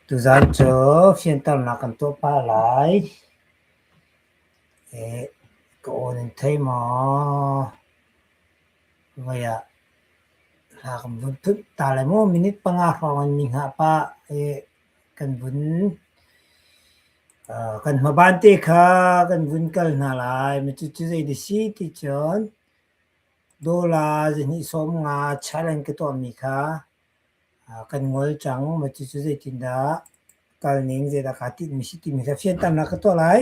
Tuzaan cu fianternak kan tuah pah lai. Ka aw nan thei maw? Mei ah hla kan vun thunh ta lai maw minute panga hrawng in mi hngah pah. kan vun uh, kan hmaban te kha kan vun kal hna lai. Ma cucu zeiti si ti cun dollar zihnih sawm nga challenge ka tuahmi kha uh, kan ngol cang. Ma cucu zeitindah kal ning zeidah kaa tinhmi si timi kha fianternak ka tuah lai.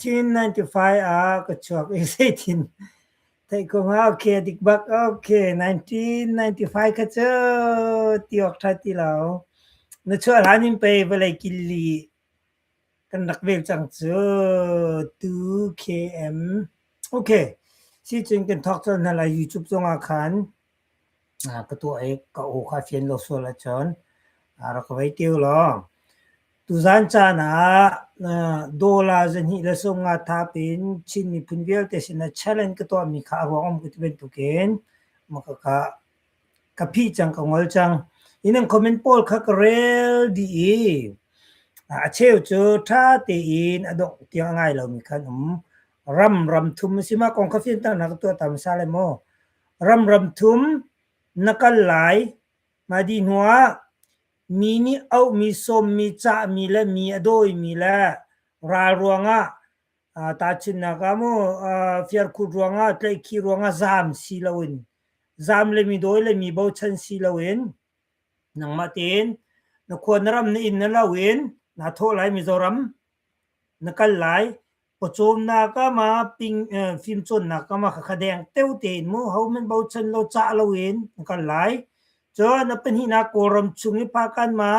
Chin 95 ah ka chuak i zeitin theih ko hnga okay dik bak okay 1995 kha cu ti awk tha ti lo na chuah hlan in pei vawlei killi kan rak vel cang cu 2km okay si cun kan thok cawlh hna lai YouTube zongah khan ka tuah i ka aw kha a fian lo sual ahcun a rak ka vei ṭiu law. Tuzan caan ah dollar zahnih le sawmnga thap in Chin miphun vialte sinah challenge ka tuahmi kha a ruang a um ko ti bantukin maka ka ka phih cang ka ngol cang. Innang comment pawl kha ka rel dih i a cheu cu ṭha tein a dongh tiang a ngai lomi kha an um. Ram ram thum a si ma kong kha fianternak ka tuah ta hmasa lai maw? Ramram thum na kal lai. Mahdi hnuah mi nih auhmi, sawmmi, cahmi le mi a dawimi le ral ruangah aa tahchunhnak ah maw aa fiarkhut ruangah tlaihkhih ruangah zaam si loin zaam le mi dawi le mi bochan si loin nangmah tein na khua na ram na inn na lo in naa thawh lai Mizoram na kal lai. pawcawmnak kam ah ping uh, fimcawnnak kam ah kha deng teu tein mu ho men bochan lo ca lo in kan lai cun na pahnih na kawlram chung i phakan ma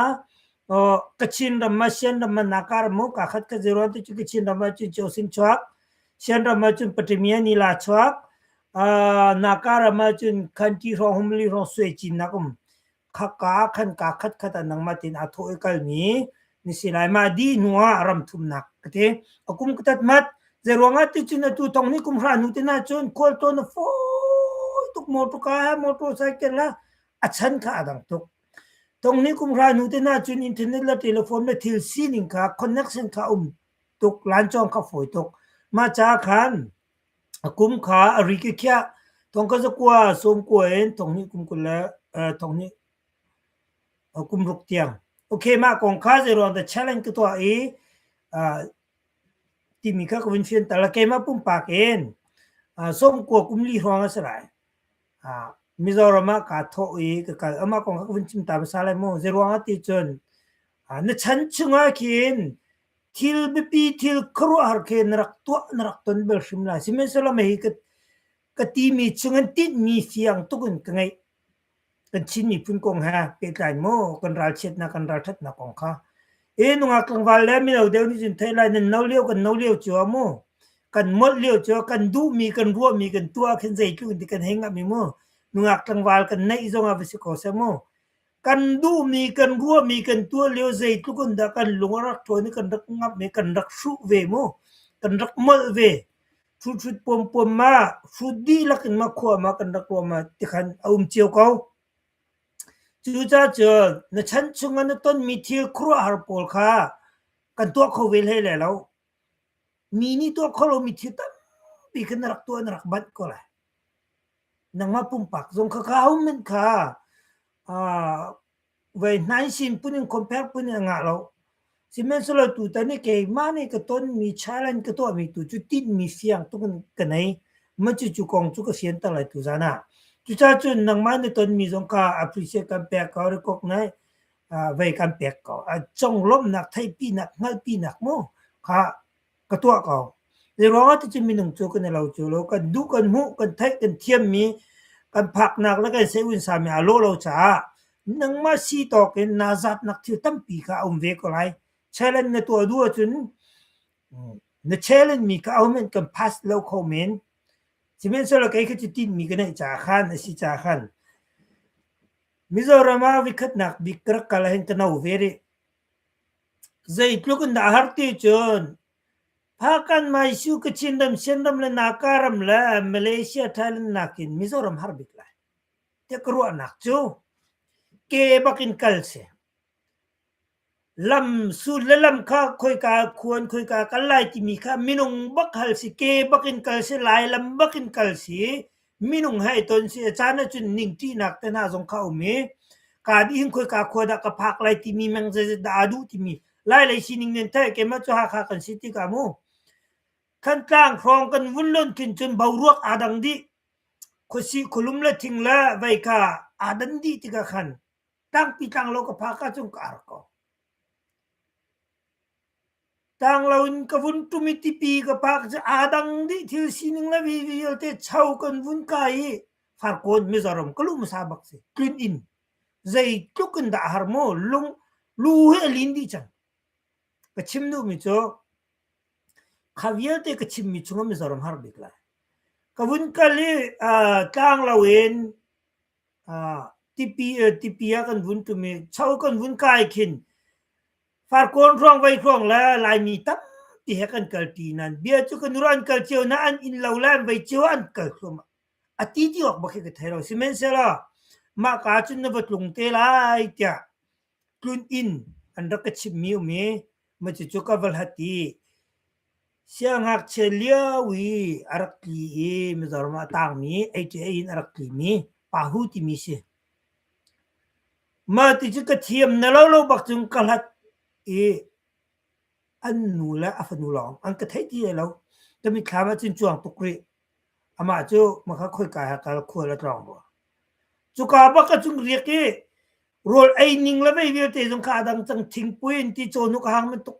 kachin ram ma sian ram ma nakar mu ka khat ka zero tu chu kachin ram ma chu chu sin chuak sian ram ma chu patimia ni la chuak nakar ma chu khan ti rong hum li rong sue chin na kum khaka ah khan kaa khatkhat an nangmat in a thawh i kalmi ni si lai mah dih hnu ah ram thumnak ka ti a kum ka tat mat zei ruangah ticun atu thong ni kum hra nu te na cun khual to na fawi tuk motor ka motor cycle la a chan kha a dang tuk tong ni kum hra nu te na cun internet la telephone me thil sining kha connection kha um tuk lan chong kha foi tuk ma cha khan A kum kha a rik i khiah. Thong kha zakua sawm kua in thong hnih kum kul le uh, thong hnih uh, kum ruk tiang. Okay, mah kong kha zeiruang dah challenge ka tuah i uh, timi kha ka vun fianter la keimah pumpak in uh, som kua kum li hrawng a si lai. Uh, Mizoram ah ka thawh i ka kal amah kong kha ka vun chim ta pasal lai maw zeiruang a ti cun uh, na chan chungah khin thil biapi thil khuaruahhar khi na rak tuah na rak ton bel hrim lai. Sihmanhsehlaw mei hi ka, ka timi chung an tinhmi fiang tuk in ka ngeih. Kan Chin miphun kong he pehtlai maw kan ralchiatnak kan ralthatnak kong kha. E nungak tlangval le mino deu nih cun thei lai nan no lio kan no lio cu a mu. Kan molh lio cu kan duhmi kan ruahmi kan tuah khin zeitluk in ti kan hei ngah mi mu. Nungak tlangval kan neih zong ah va si ko seh mu. Kan duhmi, kan ruahmi kan tuah lio zeitluk in dah kan lung a rak ṭuan i kan rak ngamh i kan rak hruh ve mu, kan rak molh ve. Ṭhuthrut puampuam ma, hrut dihlak in ma khua ma kan rak ruah ma tikhan a um cio ko. Cucaah cun na chan chung ah na tonmi thil khuaruahhar pawl kha kan tuah kho ve hlei lai lo. Mi nih tuah kho lomi thil tampi kha na rak tuah, na rak manh ko lai. nangmah pumpak zong kha ka homen kha vei hnai sin pun in compare pun in ngah lo sihmanhsehlaw tutan i keimah nih ka tonmi challenge ka tuahmi tu cu tinhmi siang tuk in ka nei ma cu cu kong cu ka sianter lai tu zan ah cucacun nangmah nih tonmi zong ka appreciate kan pek ko recognise vei kan pek ko a conglawmhnak theihpinak hngalhpinak mu kha ka tuah ko. Hi ruangah ticun minung cu kan i lo cu lo. Kan duh, kan hmuh, kan theih, kan thiammi, kan phaknak le kan seun sami a lawh lo caah nangmah si tawk in naa zatnak thil tampi kha a um ve ko lai. Challenge na tuah duh ahcun na challenge mi kha ahohmanh kan pass lo kho men. Sihmanhsehlaw kei kha cu tinhmi ka neih caah khan a si caah khan Mizoram ah vikhatnak bik ka rak kal ahhin ka no ve rih. Zeitluk in dah a har ti cun Phakan-Maisu, Kachin ram, Shan ram le Naka ram le Malaysia, Thailand nakin Mizoram har bik lai tiah ka ruahnak cu ke bak in kal si. Lam sul le lam kha khoika khuan khoika kal lai timi kha minung bak hal si, ke bak in kal si, Lai lam bak in kal si. Minung he i ton si a caan ahcun ningṭihnak te hna zong kha a um i kaan inn khoika khua dah ka phak lai timi meng zeizat dah aa duh timi lailei sining nih an theih keimah cu Hakha kan si tikah mu Thantlang hrawng kan vun lonh khin cun boruak aa dang dih khuasih khulum le thing le veika aa dan dih tikah khan tangpi tlang lo ka phak ahcun ka ar ko. Tang lo in ka vun ṭum i tipi ka pah cu aa dang dih thil sining le vialte cho kan vun kai i farkawn mizaram ka luh hmasa bak si. Tlin in zeitluk in dah a har maw lung lu he a lin dih cang. Ka chim duhmi cu kha vialte ka chimmi cungah mizaram har bik lai. Ka vun kal i uh, tlang lo in uh, tipi, uh, tipi a kan vun ṭum i cho kan vun kai khin Farkawn hrawng vai hrawng le Laimi tampi he kan kalṭi nain bia cu kan nura an kal cio nain an inn lo le an vai cio ah an kal thluahmah. A ti ti awk bak hi ka thei lo. Sihmanhsehlaw mah ka ahcun na va tlung te lai tiah tlun inn an rak ka chimhmi um i, macucu ka va hlat i Siangngakchia lio i a rak tli i Mizoram ah tangmi ATA in a rak tlimi Pahu timi si. Mah ti cu ka thiam na lo lo bak cun ka hlat i an nu le a fanu lawng an ka theih ti lai lo. Ka mitthlam ah cun cuang tuk rih. Amah cu maka khoika he kal khual a tlawng rua. Cuka bak a cun riak i rawl ei ning le vei vialte zong kha a dang cang thingpui in ti cawnuk a hang bantuk.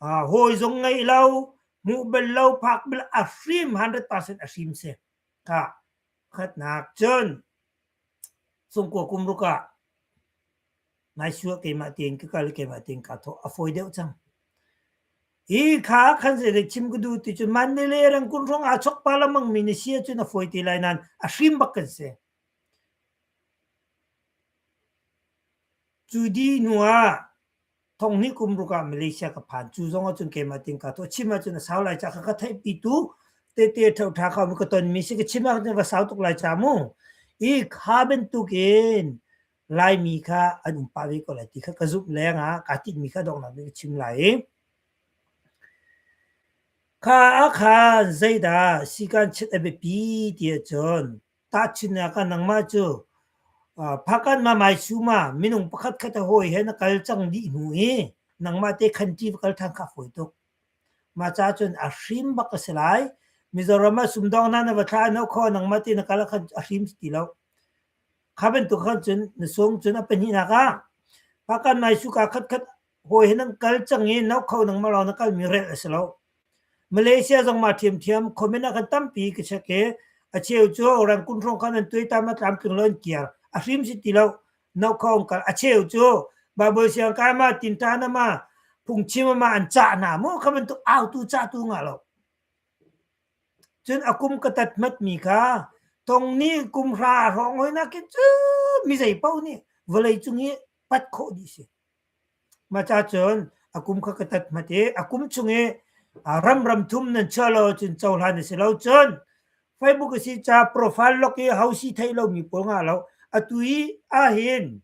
hawi zong ngei lo nu bel lo phak bel a fim 100% a hrim si ka khatnak cun sungkua kum ruka ngai sua keimah tein ka kal keimah tein ka tho a foi deuh cang hi kha khan se de chim ku du ti chu man ne le rang kun rong a chok pa la mang mi ni sia chu na foi ti lai nan a hrim bak kan se chu di nuwa thong hnih kum ruk ah Malaysia ka phan cu zong ahcun keimah ting ka to chim ahcun a sau lai ca ka ka theihpi tu tete ṭhauṭha ka ka ton mi si ka chim ahcun ka sau tuk lai ca mu i kha bantukin Laimi kha an um pah ve ko lai ti kha ka zumh leng ah kaa tinh mi kha donghnak nih ka chim lai i kha ah khan zeidah sikan chiat a biapi ti ahcun Tahchunhnak ah nangmah cu Phakan Mamai Suma minung pakhat khat a hawi he na kal cang dih hnu i nangmah te khan ṭi va kal ṭhan kha a fawi tuk. Mah caah cun a hrim bak a si lai. Mizoram ah sumdawngnak na va thlah hno khaw nangmah te na kal ah khan a hrim si ti lo. Kha bantuk khan cun na sung cun a pahnihnak ah Phakan Mai Suka khatkhat hawi hi nan kal cang i no kho nangmah lawng na kalmi rel a si lo. Malaysia zong mah thiamthiam comment ah kan tampi ka check i a cheu cu rangkun hrawng khan an tuai tam a tlamtling lo an kiar a hrim si ti lo no kho an kal a cheu cu baibal siang kai ma tin ta na ma phungchim ma an cah na mu kha bantuk autu cah tu nga lo cun akum ka tat mat mi kha tong ni kum hra rong hoi na kin cu mi zei pau ni vawlei cung i pat khawh di si Mah cacun a kum kha ka tat hmat i a kum chung i ramram thum nan chiah lo ahcun cohlan a si lo. Cun Facebook a si ca profile lok i ho si theih lomi pawl ngah lo. Atu i ahhin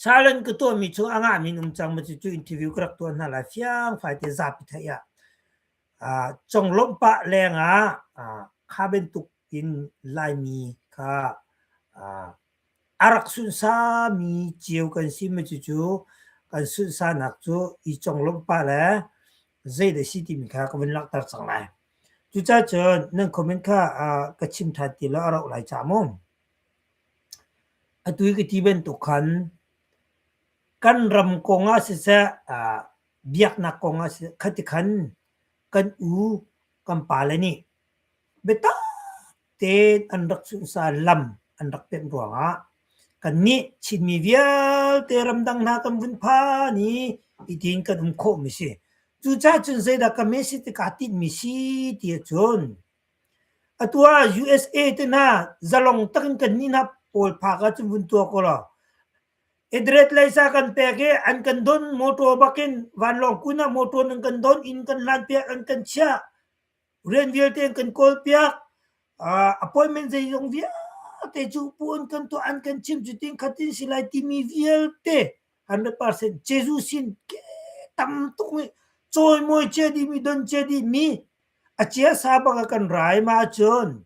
challenge ka tuahmi cu a ngahmi an um cang. Cucu interview ka rak tuah hna lai fiang faite zapi theih ah. Ah, conglawmh pah lengah ah kha bantuk in Laimi kha ah A rak sunsami cio kan si mi cucu kan sunsanak cu i conglawmh pah le zeidah a si timi kha ka vun langhter cang lai. Cucaah cun nan comment kha ah ka chim ṭhan ti lo a rauh lai ca mu. Atu i ka ti bantuk khan kan ram kong ah siseh ah biaknak kong ah siseh khatikhan kan u kan pa le nih biatak tein an rak sunhsan lam an rak pemh ruangah kannih Chinmi vialte ramdang hna kan vun phan i hitin kan um khawhmi si. Cucaah cun zeidah ka message te kaa tinhmi si ti cun atu ah USA te hna zalong takin kannih hna pawl phak ah cun vun tuak u law Adres leisa kan pek i an kan don motor bakin vanlawng kun ah motor nan kan don inn kan lan piak an kan chiah rian vialte an kan kawlpiak. Uh, appointment zeizong vialte cu puan kan tuah an kan chim cu ting khat in si lai timi vialte hundred percent Jesuh sin ke tam tuk nih cawimawi chia dih mi don chia dih mi a chia sa bak a kan rai ma cun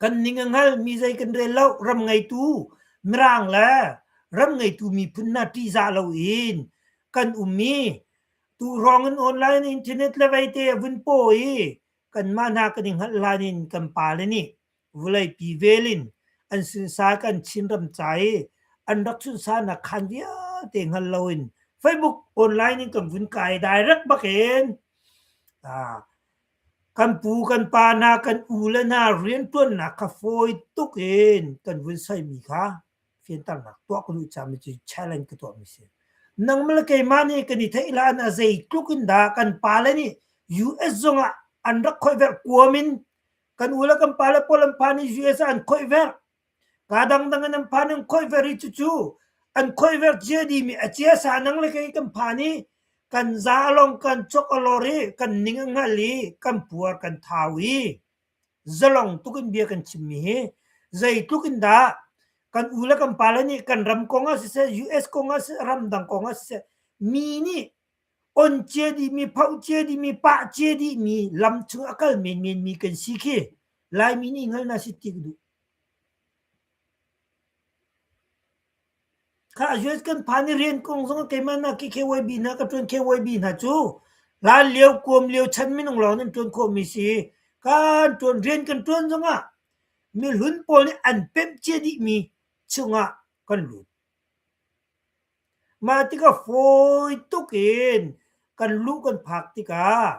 Kan ning a hngal mi zei kan rel lo. Ram ngeitu Mirang le ram ngeitu miphun hna ṭihzah lo in kan um i tu hrawng in online internet le vaite a vun paw i kanmah hna kan i hngalh hlan in kan pale nih vawleipi vel in an sunsak in Chin ram ca i an rak sunhsahnak khaan vialte hngal lo in Facebook online in kan vun kai direct bak in Kan pu kan pa hna kan u le hna rianṭuannak kha fawi tuk in kan vun soimi kha fianternak tuah ka duh cang mi cu challenge ka tuahmi a si. Nangmah le keimah nih kan i theih hlan ah zeitluk in dah kan pale nih US zong ah an rak khoih verh kuam in kan u le kan pale pawl an pa nih US ah an khoih verh. Kaa dangdang in an phan an khoih ver i cucu an khoih ver ciadi mi a ciasa nang le kei kan phan i kan za a long kan chok a lor i kan ning a hngal i kan puar kan thau i zalong tuk in bia kan chimmi hi zeitluk in dah kan u le kan pale nih kan ram kong ah siseh US kong ah siseh ram dang kong ah siseh mi nih On cia dihmi, phoh cia dihmi, pah cia dihmi lam chung a kal menmenmi kan si khi Laimi nih hngalhnak si tik duh. Kha US kan phan i rian kong zong keimah nak i KYB hna ka tuan KYB hna cu hlan lio kuam lio chan minung lawng nan tuan khawhmi si kan tuan rian kan tuan zongah mi hlun pawl nih an pemh cia dihmi chungah kan lut. Mah tikah fawi tuk in kan lu kan phak tikah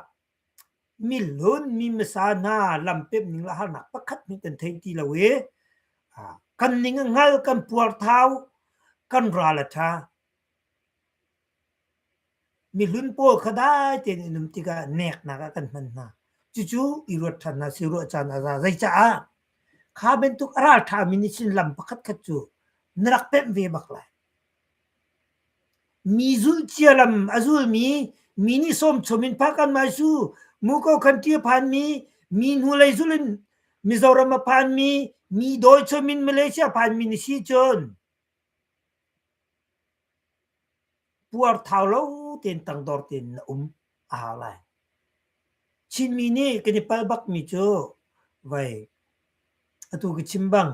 mi hlun, mi hmasa hna lampemh ning le harnak pakhat hmanh kan thei ti lo i kan ning a hngal, kan puarthau, kan ral a ṭha. Mihlun pawl kha dai tein an um tikah neknak ah kan hman hna. Cucu i ruat ṭhan hna seh, ruah caan a za. Zeicaah? Kha bantuk a ral ṭhami nih cun lam pakhatkhat cu na rak pemh ve bak lai. Mi zulhcia lam a zulmi, mi nih sawmchawm in phak an mai su, muko khanṭi a phanmi, mi hnulei zul in Mizoram a phanmi, mi dawchawm in Malaysia a phanmi na si cun Puarthau lo tein tangdor tein na um a hau lai. Chinmi nih kan i palh bakmi cu vai atu ka chim bang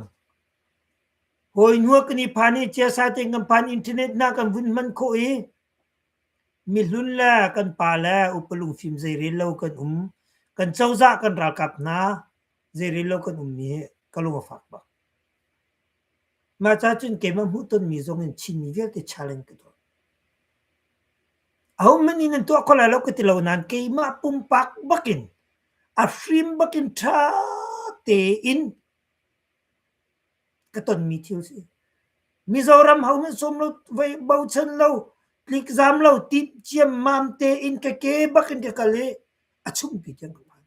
hawi hnuah kan i phan i ciasa tein kan phan internet na kan vun hman khawh i mihlun le kan pa le upalung fim zei rel lo kan um kan cozah kan ralkap hna zei rel lo kan um hi ka lung a fak bak. Mah cacun keimah hmuh tonmi zongin Chinmi vialte chal in ka dawt. Ahohmanh nih nan tuah kho lai lo ka ti lo nain keimah pumpak bakin a hrim bakin ṭha tein ka tonmi thil si. Mizoram hohmanh sawm lo, voi bochan lo, tlikzam lo, tip ciammam tein ka ke bakin ka kal i a chungpi tiang ka phan.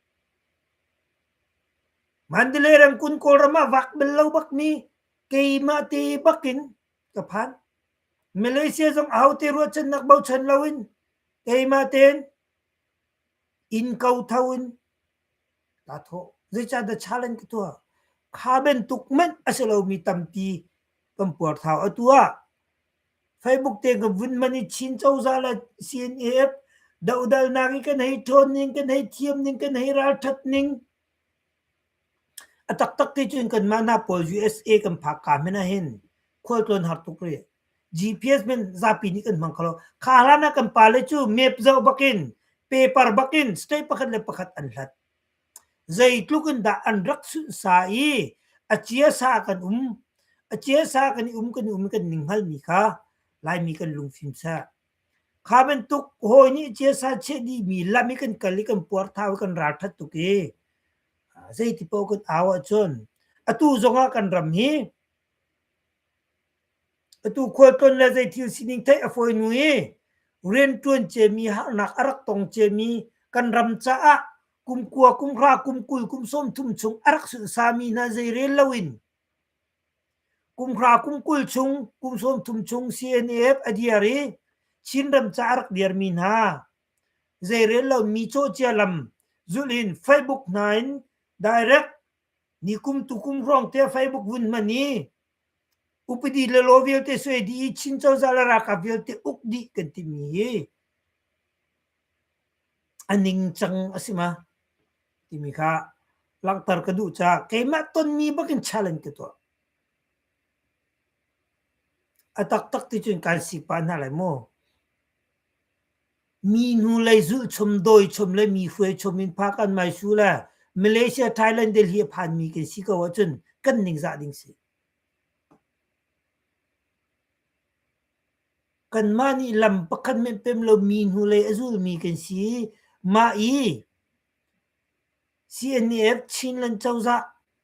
Mandalay ramkulh Kawlram ah vak bal lo bak mi keimah te bak in ka phan. Malaysia zong ahote ruahchannak bochan lo in keimah tein inn ko tho in ka thawh. Zeicah dah challenge ka tuah? Kha bantuk manh a si lomi tampi kan puarthau. Atu ah Facebook te ka vun man i Chin cozah le CNF dohdalnak i kan hei ṭhawn ning, kan hei thiam ning, kan hei ralṭhat ning. A taktak ti cun kanmah hna pawl USA kan phak ka men ahin khualtlawn har tuk rih. GPS men zapi nih kan hmang kho lo. Kha hlan ah kan pale cu map zoh bakin, paper bakin state pakhat le pakhat an hlat. Zeitluk in dah an rak sunhsa i a ciasa kan um, a ciasa kan i um, kan i um i kan ning hngalmi kha Laimi kan lungfim seh. Kha bantuk hawi nih ciasa chiah dihmi lam i kan kal i kan puarthau i kan ralṭhat tuk i zeiti paoh kan au ahcun atu zongah kan ram hi Atu khualtlawn le zeithil sining theih a fawinu i rianṭuan ciami, harnak a rak tong ciami kan ram caah kumkua, kumhra, kumkul, kumsawmthum chung a rak sunhsami hna zei rel loin kumhra, kumkul chung, kumsawmthum chung CNF a dir i Chinram caah a rak dirmi hna zei rel lomi cawhcia lam zulh in Facebook hna in direct nikum tukum hrawngte Facebook vun hman i Upadi le law vialte suai dih i Chin cozah le ralkap vialte uk dih kan timi hi a ningcang a si ma timi kha langhter ka duh caah keimah tonmi bakin challenge ka tuah. A taktak ti cun kan si pah hna lai maw? Mi hnulei zulhchum, dawichum le mi hruaichum in phak an maisu le Malaysia, Thailand, Delhi a phanmi kan si ko ahcun kan ningzah ding si. Kanmah nih lam pakhat men pem lo mi hnulei a zulmi kan si i, mah i CNF Chinland cozah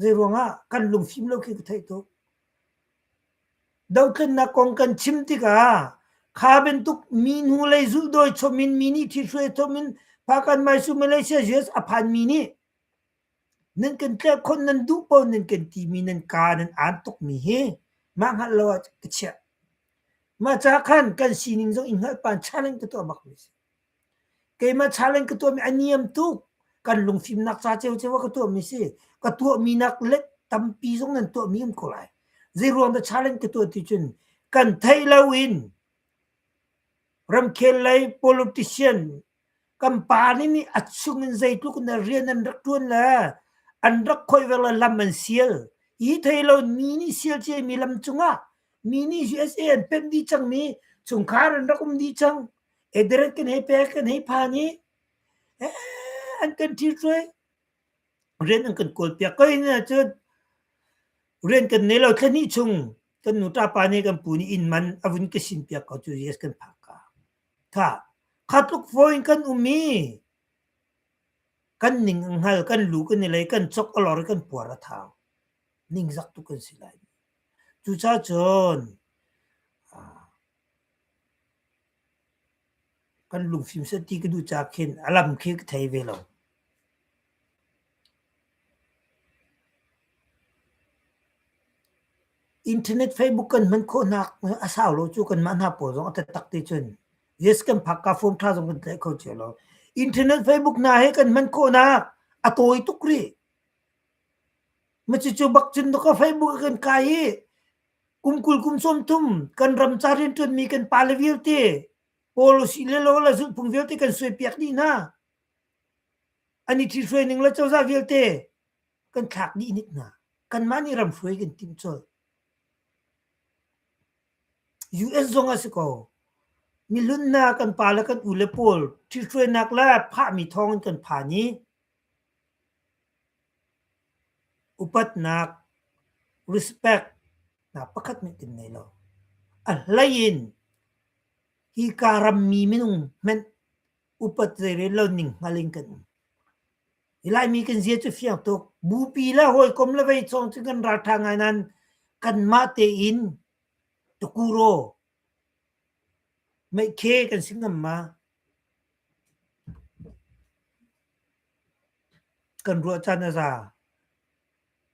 Zeiruangah kan lungfim lo khi ka theih tuk. Dohtlinnak kong kan chim tikah kha bantuk mi hnu lei zulh dawi chomin mi nih thi hruai chomin Pakan Maisu Malaysia US a phan mi nih nan kan tlerh khon nan duh pawl nan kan ti mi nan ka nan aan tuk mi hi mah hngalh lo ah ka chiah. Mah ca khan kan sining zong i hngalh pan chaning ka tuah bak mi si. Keimah challenge ka tuahmi a niam tuk. Kan lungfimnak ca ciocio ah ka tuahmi si. Ka tuahmi nak le tampi zong nan tuahmi an ko lai. Zeiruang dah challenge ka tuah ti cun kan theih lo in ramkhel lei politician kan pa nih nih a chung in zeitluk in rian an rak ṭuan le an rak khoiver le lam an sial. Hi thei lo mi nih sial ciami lam cungah mi nih USA an pemh dih cangmi chungkhar an rak um dih cang. Eder kan hei pek, kan hei phan i an kan ṭhithruai. Rian an kan kawlpiak ko hna cun rian kan nei lo. Thla hnih chung kan nuṭa pa nih kan pu nih inn man a vun ka sinpiak ko cu yes kan phak ka. Tha, kha tluk fawi in kan um i kan ning a hngal, kan lu kan i lei, kan cok a lor i kan puar a thau. Ningzak tuk kan si lai. Cucacun Kan lungfim seh ti ka duh caah khin a lam khi ka thei ve lo. Internet, Facebook kan hman khawh hna a sau lo cu kanmah hna pawl zong a tattak ti cun yes kan phak ka form ṭha zong kan tlaih kho cio lo. Internet, Facebook hna hi kan hman khawhnak a tawi tuk rih. Macucu bak cun ka Facebook a kan kai hi kum kul kum sawm thum kan ram ca rian ṭuanmi kan pale vialte policy le lo la zulhphung vialte kan suai piak dih hna ani thi hruai ning le cozah vialte kan thlak dih nit hna kanmah nih ram hruai kan tim col US zong a si ko milun na kan pa le kan u le pawl thi hruainak le phahmi thawng in kan phan i Upatnak respect nak pakhat nih tin nei lo. A hlei in hika rammi minung hmenh upat zeirel lo ning hngal in kan um. Hi Laimi kan zia cu fiang tuk. Bupi le hawikom le vei cawng cu kan ralṭha ngai nain kanmah tein tukuro meikhe kan si ngam ma? Kan ruah caan a za.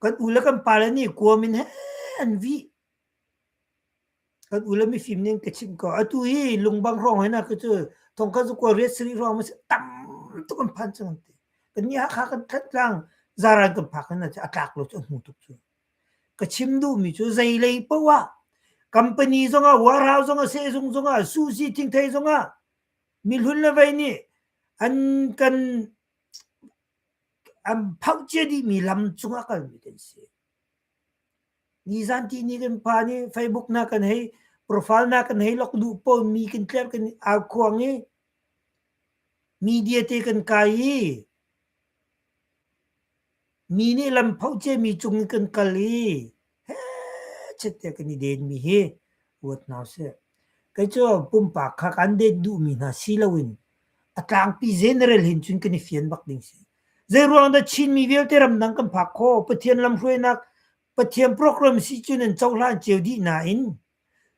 Kan u le kan pale nih kuam in hen an vih. Kan u le mifim nih an ka chimh ko. Atu hi lungbang hrawng hoi nak hi cu thongkhat cu kua riat sarih hrawng a si. Tam tuk an phan cang an ti. Kan ni Hakha kan thantlang zaran kan phak hoi nak cu a tlak lo cu a hmu tuk cu. ka chim duhmi cu zeilei paoh ah company zongah warehouse zongah sehzung zongah susi thingthei zongah mihlun le vei nih an kan an phakcia dihmi lam cungah kalmi kan si. Nizan ti ni kan phan i Facebook na kan hei profile na kan hei lok duh po mi kan tler kan au khuang i media te kan kai i Mi nih lam phoh ciami cung in kan kal i hechet tiah kan i denmi hi ruat hna sih. Kei cu pumpak kha kan den duhmi hna si loin a tlangpi general hin cun kan i fian bak ding si. Zeiruang dah Chinmi vialte ramdang kan phak kho? Pathian lamhruainak Pathian program si cun an cohlan cio dih nain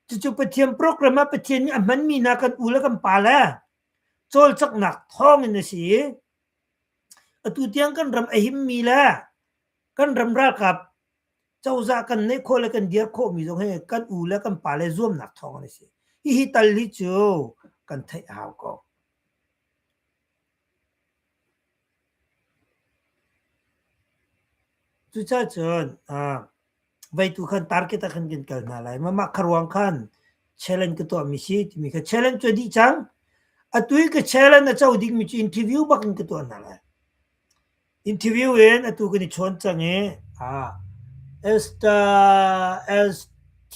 cucu Pathian program ah Pathian nih a hmanmi hna kan u le kan pa le cawlcanghnak thawng in a si i Atu tiang kan ram a himmi le kan ram ralkap cozah kan neih khawh le kan dir khawhmi zong hi kan u le kan pa le zuamnak thawng an si. Hihi tal hi cu kan theih a hau ko. Cucacun ah Vai tu khan target ah khan kan kal hna lai. Mah kha ruang khan challenge ka tuahmi si timi kha challenge cu a dih cang. Atu i ka challenge a co dingmi cu interview bak in ka tuah hna lai. Interview in atu kan i chawn cang i ah Esther S T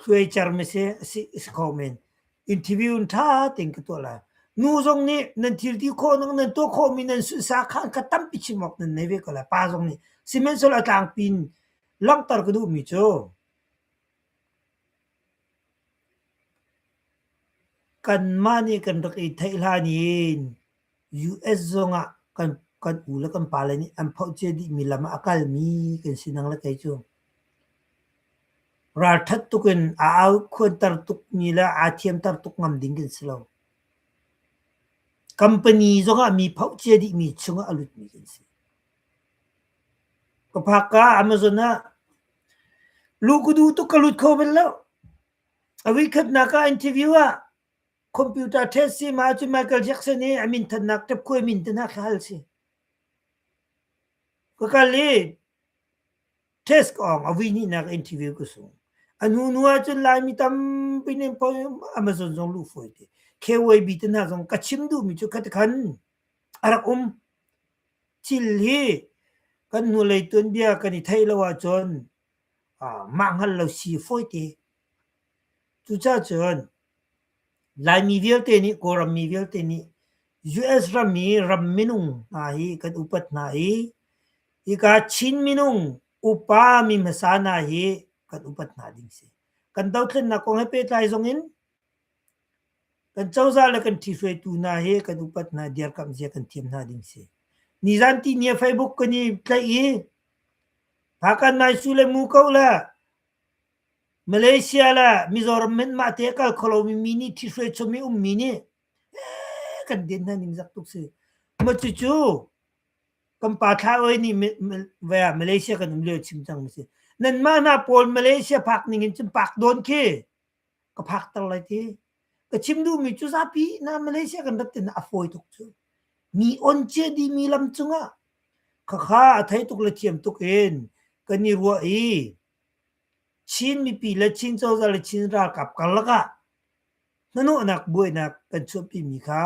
Hluaicer mese asi si kho men. Interview in ṭha tein ka tuah lai. Nu zong nih nan thilti khawhnak, nan tuah khawhmi nan sunsa kha an ka tampi chim awk nan nei ve ko lai. Pa zong nih. Sihmanhsehlaw a tlangpi in langhter ka duhmi cu kanmah nih kan rak i theih hlan in US zong ah kan u le kan pale nih an phohcia dihmi lam ah a kalmi kan si nang le kei cu. Ralṭhat tuk in a au khuanter tukmi le aa thiamter tuk ngam ding kan si lo. Company zong ah mi phohcia dihmi chung ah a lutmi kan si. Ka phak ka Amazon ah lu ka du tuk ka lut kho bal lo. A weekend na ka interview ah Computer ṭhen si ma cu Michael Jackson i a minthannak ṭapkhuai min te hna kha hal si. Ka kal i test awng a vui nih nak interview ku sung. A nu nu ahcun Laimi tampi nih poi Amazon zong luh fawi te. KYB te hna zong ka chim duhmi cu khat khan a rak um. Thil hi kan hnulei tuanbia kan i theih lo ahcun ah mah hngal lo si fawi te. Cucacun Laimi vialte nih Kawlrammi vialte nih US rami ram minung hna hi kan upat hna i hika Chin minung upa mi hmasa hna hi kan upat hna ding a si. Kan dothlennak kong he pehtlai zongin kan cozah le kan ṭhihruaitu hna hi kan upat hna i dirkamh zia kan thiam hna ding a si. Nizan tini ah Facebook kan i tlaih i Hakan Nai Su le Mu Ko le Malaysia le Mizoram in mahte a kal kho lomi mi nih ṭhihruai chom i ummi nih ee kan den hna ningzak tuk si. Cucu kan pa Thlaoe nih vai ah Malaysia kan um lio a chim cang mi si. Nanmah hna pawl Malaysia phak ning in cun pak dawn khi ka phakter lai ti. Ka chim duhmi cu zapi na Malaysia kan rat tinak a fawi tuk cu. Mi on cie dihmi lam cungah khakha a thei tuk le thiam tuk in kan i ruah i Chin mipi le Chin cozah le Chin ralkap karlak ah hnanawhnak buainak kan chuahpimi kha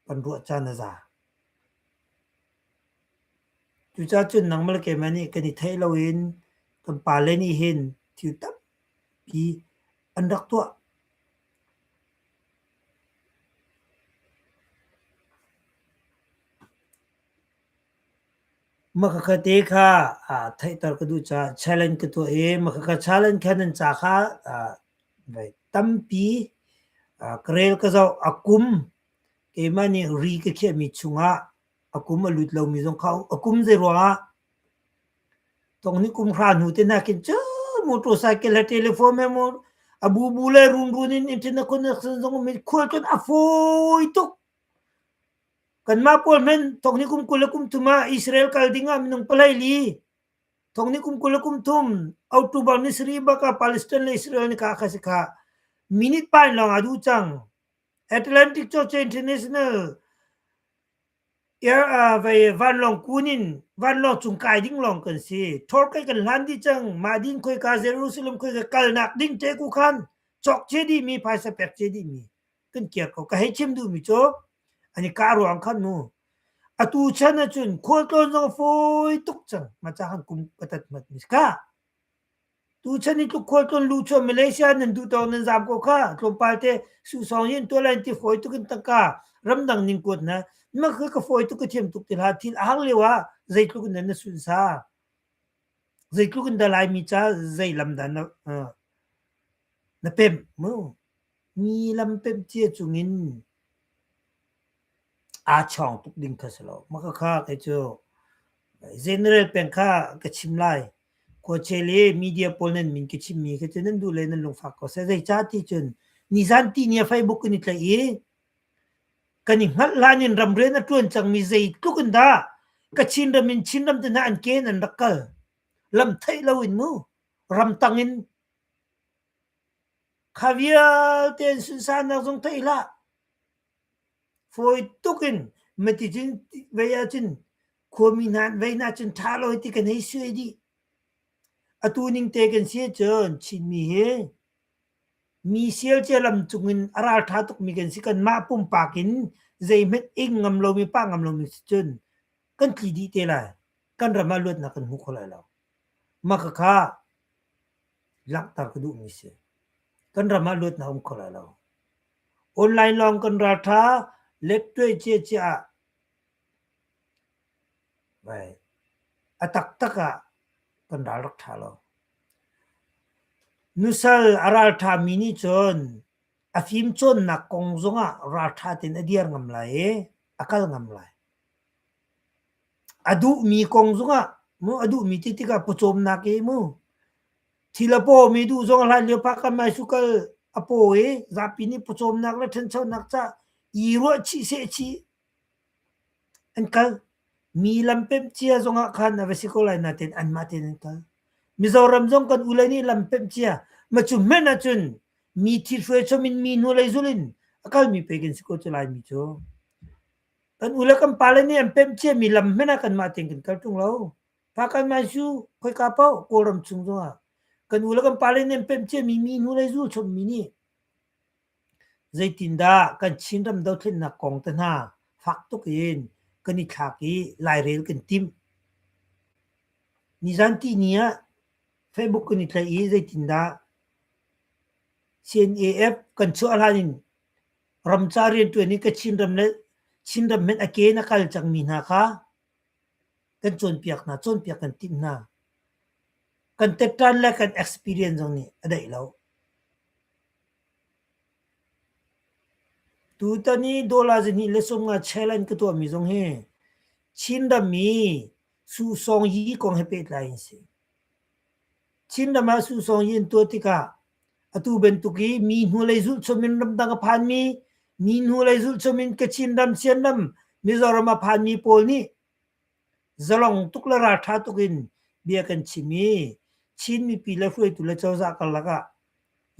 kan ruah caan a za. Cucacun nangmah le keimah nih kan i theih lo in kan pale nih hin thil tampi an rak tuah. Maka ka te kha aa theihter ka duh caah challenge ka tuah i maka ka challenge kha nan ca kha aa voi tampi aa ka rel ka zoh. A kum keimah nih ri ka khiahmi chungah a kum a lut lomi zong kha a kum zei ruangah tongni kum hra hnu te nakin cu motor cycle le telephone he mo a bubu le runrun in in thil na kun na zong mit khual cun a fawi tuk. Kanmah pawl hmenh thawk ni kum kul le kum thum ah Israel kal ding ah minung palei li thawk ni kum kul le kum thum October ni sarih bak ah Palestine le Israel ni ka kha si kha minute pain lawng a duh cang. Atlantic Church International air uh, vai vanlong kun in vanlong chung kai ding long kan si thor kai kan hlan di chang ma din khoi ka Jerusalem khoi ka kal nak ding te ku khan chok che di mi phaisa pek che di mi kan kiar ko ka hei chim duhmi cu ani ka ruang khan mu atu chan ahcun khual tlawn zong fawi tuk cang ma ca han kum patat mat mi ka tu chan i tluk khual tlawn lu chuan Malaysia nan duh tawng nan zam ko kha tlawmpal te su song yin to line ti foi tu kin taka ramdang ning kuat na ma ka ka foi tu ka thiam tuk til ha thil a hang lewa zai tluk nan na sun sa zai tluk in dalai mi cha zai lam dan na na pem mu Mi lampenh cia cungin aa chawng tuk ding kha si lo. Maka kha kei cu general peng kha ka chim lai. Khuachel i media pawl nan min ka chimmi khi cu nan duh le nan lungfak ko seh. Zei cah ti cun nizanti ni a Facebook in i tlaih i kan i hngalh hlan in ramrian a ṭuan cangmi zei tluk in dah ka Chinram in Chinram te hna an ke in an rak kal. Lam theih lo in mu. Ramtang in Kha vialte in sunsanak zong theih hlah. Fawi tuk in maticun vei ahcun khuami hna an vei hna cun ṭha lo hi ti kan hei suai dih. Atu ning te kan si ahcun Chinmi hi mi sialcia lam cungin a ralṭha tukmi kan si. Kanmah pumpak in zeihmanh ing ngam lomi, pah ngam lomi si cun kan tli dih te lai. Kan ram ah luatnak kan hmu kho lai lo. Maka kha langhter ka duhmi si. Kan ram ah luat na um kho lai lo. Online lawng kan raltha lettuai cia cia ah vai a taktak ah kan ral rak tha lo. Nusal a raltha mi nih cun a fim cawnnak kong zong ah raltha ten a dir ngam lai i a kal ngam lai. A duhmi kong zongah mu a duhmi ti tikah pawcawmnak i mu. Thil a pawmi duh zong a hlan lio phakam ai sukal a paw i zapi nih pawcawmnak le ṭhanchonak ca i ruah chih seh chih an kal. Mi lampemh cia zongah khan a va si ko lai nain anmah tein an kal. Mizoram zong kan ule nih lampemh cia ma cu hmenh ahcun mi thithruai chom in mi hnulei zulin a kalmi pei kan si ko cu Laimi cu. Kan ule kan pale nih an pemh ciami lam hmanh ah kanmah tein kan kal ṭung lo. Pa kanmah cu khoika paoh Kawlram chung zongah kan ule kan pale nih an pemh ciami minu lei zu a chawmmi nih zeitindah kan Chinram dothlennak kong te hna fak tuk in kan i thlak i lairel kan timh. Nizanti ni ah Facebook kan i tlaih i zeitindah CNAF kan chuah hlan in Ram ca rianṭuan in ka Chinram le Chinram men a ke in a kal cangmi hna kha kan cawnpiak hna, cawnpiak kan timh hna. Kan tetṭan le kan experience zong nih a daih lo. Tutan i dollar zihnih le sawmnga chela in ka tuahmi zong hi Chinram i susawng hi kong he pehtlai in a si. Chinram ah susawng hi an tuah tikah Atu bantuk i mi hnulei zulhchum in ramdang a phanmi, mi hnulei zulhchum in Kachin ram, Sian ram, Mizoram a phanmi pawl nih zalong tuk le ralṭha tuk in bia kan chim i Chin mipi le hruaitu le cozah karlak ah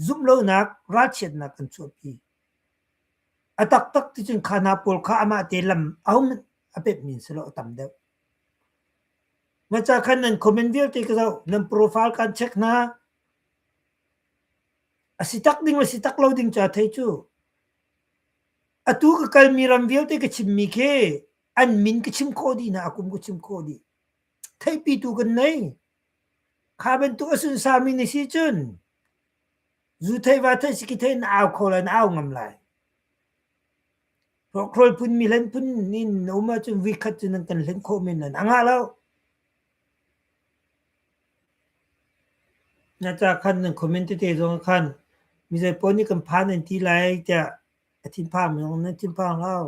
zumh lonak, ralchiatnak an chuahpi. A taktak ticun kha hna pawl kha amah te lam a hum a pepmi si lo a tam deuh. Maca khan nan comment vialte ka zoh, nan profile kan check hna, A si tak ding le si tak lo ding ca thei cu atu ka kalmi ram vialte ka chimmi khi an min ka chim khawh dih na a kum ka chim khawh dih theihpitu kan nei kha bantuk a sunsami ni si cun zu thei va thei si ki thei na au kho lai na au ngam lai rokhrol phun mi hlen phun in na um ahcun vikhat cu nan kan hlen khawh men lan a ngah lo Na ca khan nan comment tete zong ah khan mizapi nih kan phan an ti lai tiah a thinphang zong nan thinphang hau.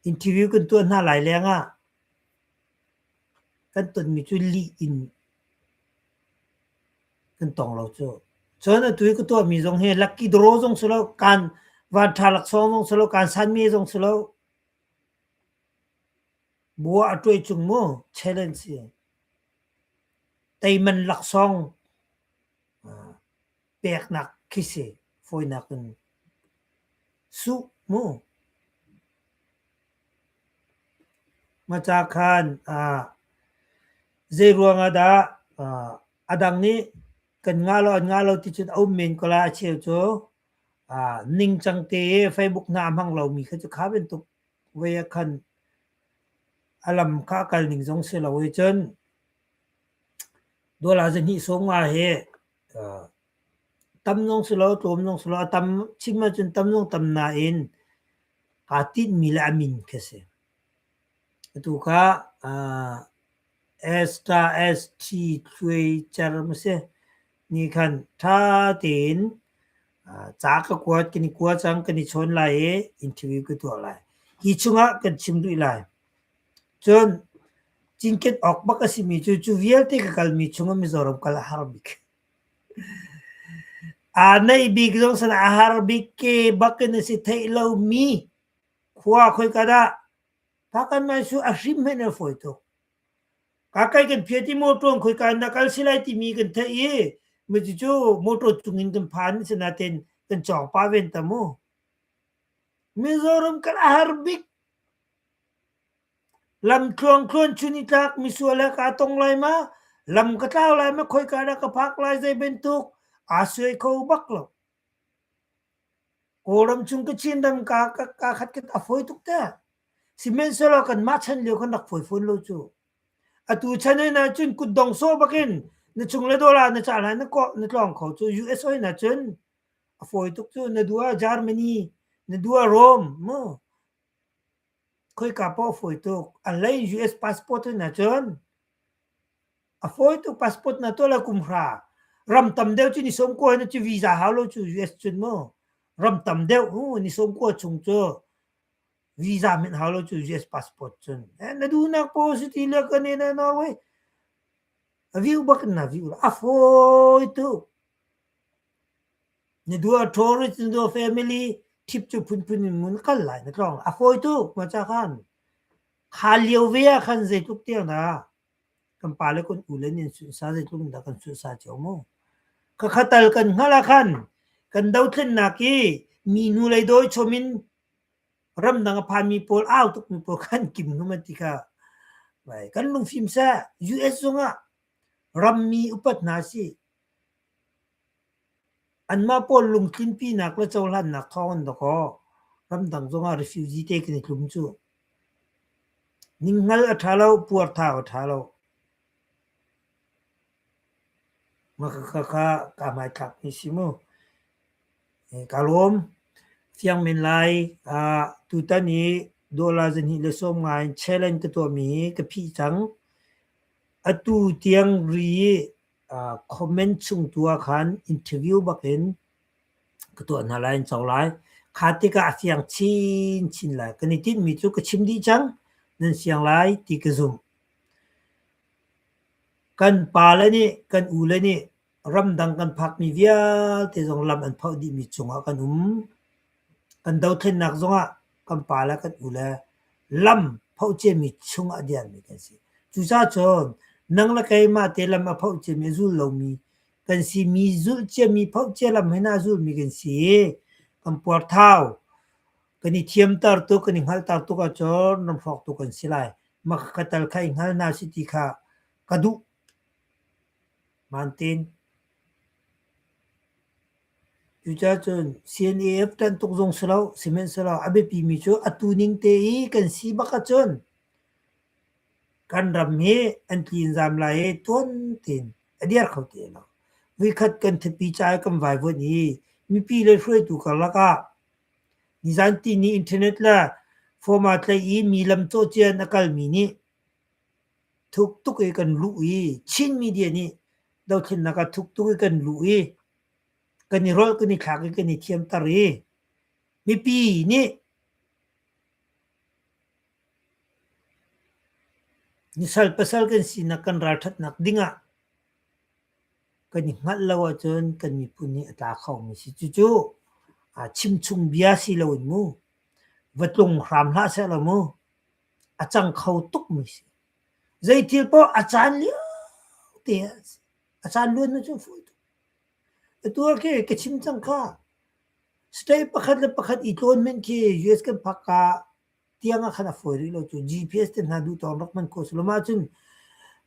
Interview kan tuah hna lai leng ah kan tonmi cu lih in kan tong lo cu. Cun atu i ka tuahmi zong hi lucky draw zong si lo, kaan van ṭha laksawng zong si lo, kaan sanme zong si lo. Bua a ṭuai chung mu, challenge si. Teiman laksawng peknak khi si fawinak in suh mu. Maca khan zeiruang ah dah a dang nih kan ngah lo an ngah lo ti cun a um men ko lai. Acheu cu ningcang te i Facebook na a hmang lomi kha cu kha bantuk Voi a khan a lam kha a kal ning zong si lo i cun dawla zahnih sawm nga hi uh, tam nong si lo tlawm nong si lo a tam chim ahcun tam nong tam na in aa tinh mi le a min khi si. Atu kha uh, Ester-st-thluicer masi nih khan ṭha tein ca ka kuat, kan i kua cang, kan i chawn lai i interview ka tuah lai. Hi chungah kan chim duh lai. Cun cinken awk bak a simi cu, cu vialte ka kalmi chungah Mizoram kal a har bik. Aa neih bik zong sana a har bik ke bakin a si theih lomi khua khoika dah Ka kan ngai cu a hrim hen a fawi tuk. Ka kai kan phiat i motor an khoi ka na kal si lai timi kan theih i mi cucu motor cung in kan phan sinain kan cawng pah ven ta mu. Mizoram kan a har bik. Lam thluangthluan chun i tlak misual he kaa tong lai ma, lam ka tlau lai ma, khoi ka dah ka phak lai zei bantuk aa suai kho bak lo. Kawlram chung ka Chin ram kaa kaa khat kan a fawi tuk teh. Sihmanhsehlaw kanmah chan lio kan rak fawi fawn lo cu. Atu chan hoi na cun kutdong sawh bakin na chung le dawla na cah lai na kawh na tlawng kho cu US hoi na cun a fawi tuk cu. Na du ah Germany, na du ah Rome mu. khoika paoh fawi tuk a lei US passport in ahcun a fawi tuk passport na tuah la kum hra ram tam deuh cu ni som kua na cu visa hau lo cu US cun mu ram tam deuh hu ni som kua chung cu visa min hau lo cu US passport cun eh na duhnak paoh si ti le kan na Norway a viu bak na viu a fawi tuk Na dua ṭhaw ri cu na dua family ṭhip cu phunphun in ngun kal lai na tlong. A fawitu khua ca khan kha lio ve ah khan zeitluk tiang dah kan pale kan u le nih an sunhsa zeitluk in dah kan sunhsa cio mu. Ka khatal kan hngalh ah khan kan dothlennak i mi hnulei dawi chom in ramdang a phanmi pawl au tukmi pawl khan kim hnum an ti kha vai kan lungfim seh. US zongah rammi upat hna sih. Anmah pawl lungtlinpinak le cohlannak thawng an dawkaw. Ramdang zongah refugee te kan i tlum cu. Ninghngal a ṭha lo, puarthau a ṭha lo. Makhakha kaa hmaithlakmi si mu. Kaa lawm. Fiang men lai. tutan i dola zahnih le sawm ngai in challenge ka tuahmi hi ka phih cang. Atu tiang ri comment chung tu ah khan interview bak in ka tuah hna lai an co lai kha tikah a fiang chin chin lai kan i tinh mi cu ka chim dih cang nan siang lai ti ka zumh kan pa le nih kan u le nih ramdang kan phak mi vialte zong lam an phauh dih mi cung ah kan um kan dothlennak zong ah kan pa le kan u le lam phoh ciami chung ah a diarmi kan si. Cucacun nang le keimah te lam a phoh ciami, a zul lomi kan si. Mi zulh ciami, phoh cia lam hi naa zulmi kan si i kan puarthau kan i thiamter tuk, kan i hngalhter tuk ahcun nan hrawk tuk kan si lai. Maka ka tal kha i hngal hna sih ti kha ka duh. Cucacun CNAF ṭan tuk zong si lo, sihmanhsehlaw a biapimi cu atu ning te i kan si bak ahcun kan ram hi an tli in zaam lai i tuan tein a dir kho ti lai lo. Vuikhat kan ṭhapi ca i kan vaivuanh i mipi le hruaitu karlak ah nizan tini internet le form aa tlaih i mi lam cawhcian a kalmi nih Thuk tuk i kan luh i Chin media nih dothlennak ah thuk tuk i kan luh i kan i rolh, kan i thlak i kan i thiamter i mipi nih sal pasal kan sinak kan ralṭhatnak ding ah kan i hngalh lo ahcun kan miphun nih a tla khomi si. Cucu chimchungbia si loin mu, va tlung hram hlah seh law mu. a cang kho tukmi si. Zeithil poh a caan lio te a caan luan na cu fawi tuk. Atual khi ka chim cang kha state pakhat le pakhat i tlawn men khi US kan phak ka tiang ah khan a fawi rih lo cu GPS te hna duh tawng rak man ko sulom ahcun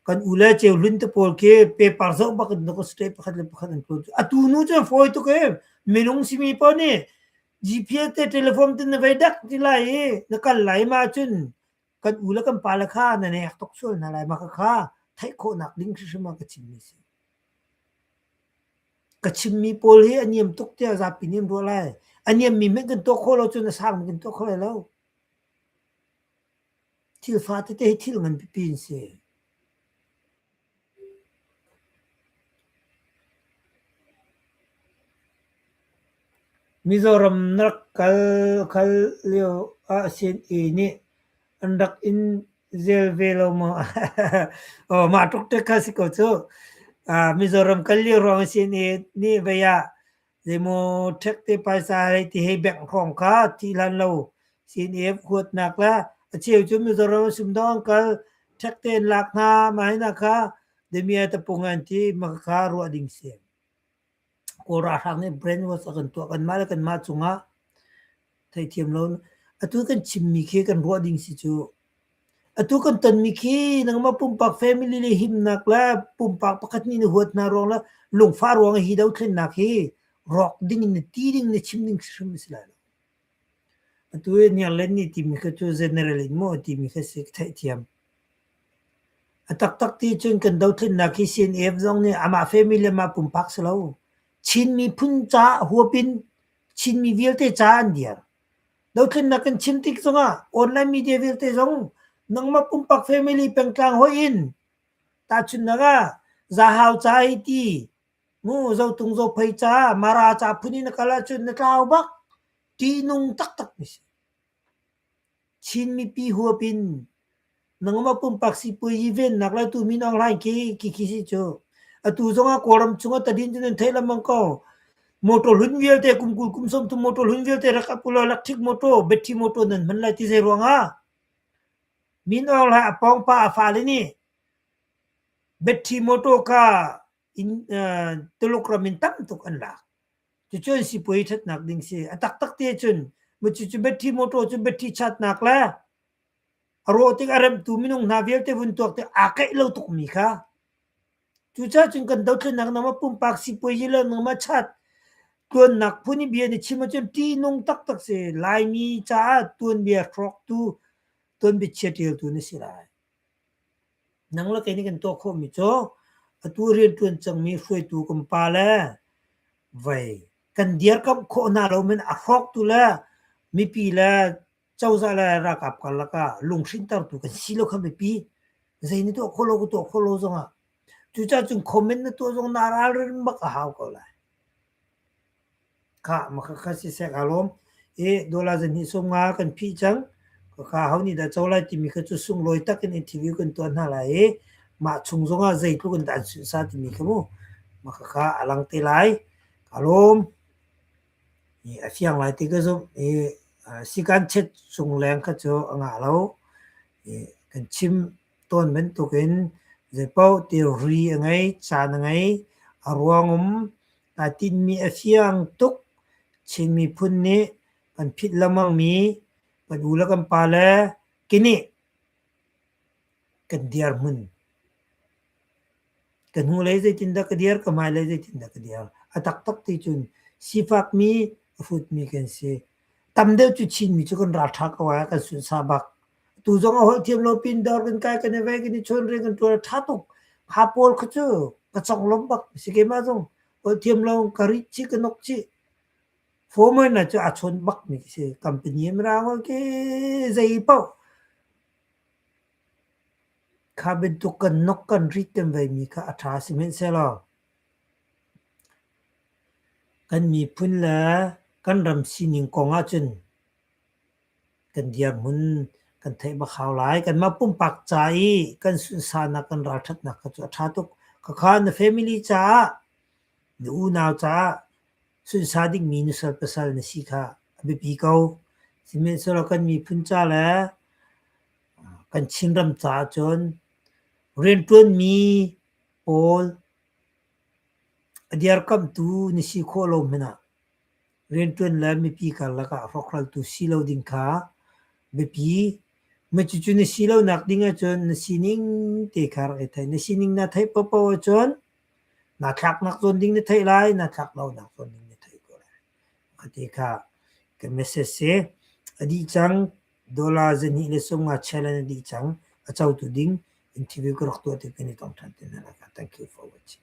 kan u le cheu hlun te pawl khi paper zoh bak in state pakhat le pakhat an tlawn cu atu nu cu fawi tuk e minung simi poh nih GPS te telephone tin na vei dak ti lai i na kal lai ma cun kan u le kan pa le kha na nek tok sual hna lai ma ka kha theih khawh nak ding hrimhrim a ka chim mi si ka chim mi pawl hi a niam tuk tia zapi niam ruah lai a niam mi men kan to kho lo cun a sang kan to kho lai lo thil fa te te hi thil ngan pipi in si Mizoram na rak kal khal lio ahsin i nih an rak in zel ve lo maw? Aw mah tluk te kha si ko cuh. Mizoram kal lio ruang ahsin i nih vei ah Zeimaw ṭhek te paisa hei ti hei bengh hrawng kha ti hlan lo sin i huatnak le a cheu cu Mizoram sumdawng kal ṭhek tein lak hna ma hina kha damiah tapung an ti ma kha ruah ding si. Kawl ralhrang nih brainwash a kan tuah kanmah le kanmah cungah theithiam lo. Atu kan chimmi khi kan ruah ding si cu atu kan tonmi khi nangmah pumpak family le himnak le pumpak pakhat nih na huat hna ruang le lungfa ruang hi do thlennak hi rawk ding in na ti ding na chim ding hrim si lai lo. Atu e niang len ni timi kha cu general in mo timi kha si theithiam. A tak tak ti cun kan do thlennak hi CNF zong nih amah family le ma pumpak si lo. Chin miphun ca huapin Chinmi vialte ca an dial. Dothlennak kan chim tik zongah online media vialte zong nangmah pumpak family pengtlang hoih in tahchunnak ah zahau ca hi ti ngu zotung zophei ca mara ca phun in na kal ahcun na tlau bak ṭihnung taktak mi si. Chin mipi huap in nangmah pumpak sipuazi vennak le atu Min Aung Hlaing khi khi khi si cu atu zongah Kawlram cungah tadin cu nan theih lengmang ko motor hlun vialte kum kul kum sawm tu motor hlun vialte rak apula electric motor battery motor nan hman lai ti zei ruangah Min Aung Hlaing a pawng pa a fale nih battery motor ka in uh, Tuluk ram in tam tuk an lak Cucun sipuai ṭhatnak ding si. A taktak te cun cucu battery motor cu battery chatnak le a rawh tik a remtu minung hna vialte vun tuak tik aa kaih lo tukmi kha cucaah cun kan dothlennak nama pumpak sipuai hi le nama chat tuannak phun i bia ni chim ahcun ṭihnung taktak si Laimi caah tuanbia hrawktu tuanbia chiaṭialtu na si lai. Nang le kei nih kan tuah khawhmi cu atu rianṭuan cangmi hruaitu kan pa le vei kan dirkamh khawh hna lo men a hrawktu le mipi le cozah le ralkap karlak ah lunghrinhtertu kan si lo kha mipi. Zei nih tuah khawh lo ka tuah khawh lo zongah cucaah cun comment na tuah zong na ralring bak a hau ko lai. Khah makha kha siseh kaa lawm. I dollar zahnih sawm nga kan phih cang. Khakha ho nih dah co lai timi kha cu sunglawi tak in interview kan tuah hna lai i mah chung zongah zeitluk in dah an sunhsa timi kha mu makha kha a lang te lai. Kaa lawm. I a fiang lai ti ka zumh. I sikan chet chung leng kha cu a ngah lo. I kan chim Tawn bantukin zeipaoh thilri a ngei, caan a ngei, a ruang um aa tinhmi a fiang tuk. Chin miphun nih kan phit lengmangmi kan u le kan pa le kenih kan dirhmun. Kan hnulei zeitindah ka dir, ka hmailei zeitindah ka dir. A taktak ticun sifakmi, a hrutmi kan si. Tam deuh cu Chinmi cu kan ralṭha ko ee, kan sunsa bak. tu zong a holh thiam lo pindar kan kai kan ve kan i chon ring kan tuar tha tuk ha pawl kha cu ka chong lom bak si ke ma zong holh thiam lo ka ri chi ka nok chi former na chu a chon bak mi si company em ra ho ke zei pau kha ben tu kan nok kan ri tem ve mi kha a tha si men se lo kan mi phun le kan ram sining kong ah cun kan dirhmun kan theih bak hau lai. Kanmah pumpak ca i kan sunsanak, kan ralṭhatnak kha cu a ṭha tuk. Khakha na family caah, na unau caah sunsa dingmi nusal pasal na si kha a biapi ko. Sihmanhsehlaw kan miphun ca le kan Chinram caah cun rianṭuanmi pawl a dirkamhtu na si khawh lo hmanh ah rianṭuan le mipi karlak ah hrawkhraltu si lo ding kha biapi. Cucu na si lonak ding ahcun na sining te kha rak i theih. Na sining na theih popo ahcun na thlaknak zawn ding na theih lai, na thlak lonak zawn ding na theih ko lai. A ti kha ka message si. A dih cang dollar zahnih le sumnga challenge a dih cang. A cotu ding interview ka rak tuah ti kan i tong ṭhan te hna. Thank you for watching.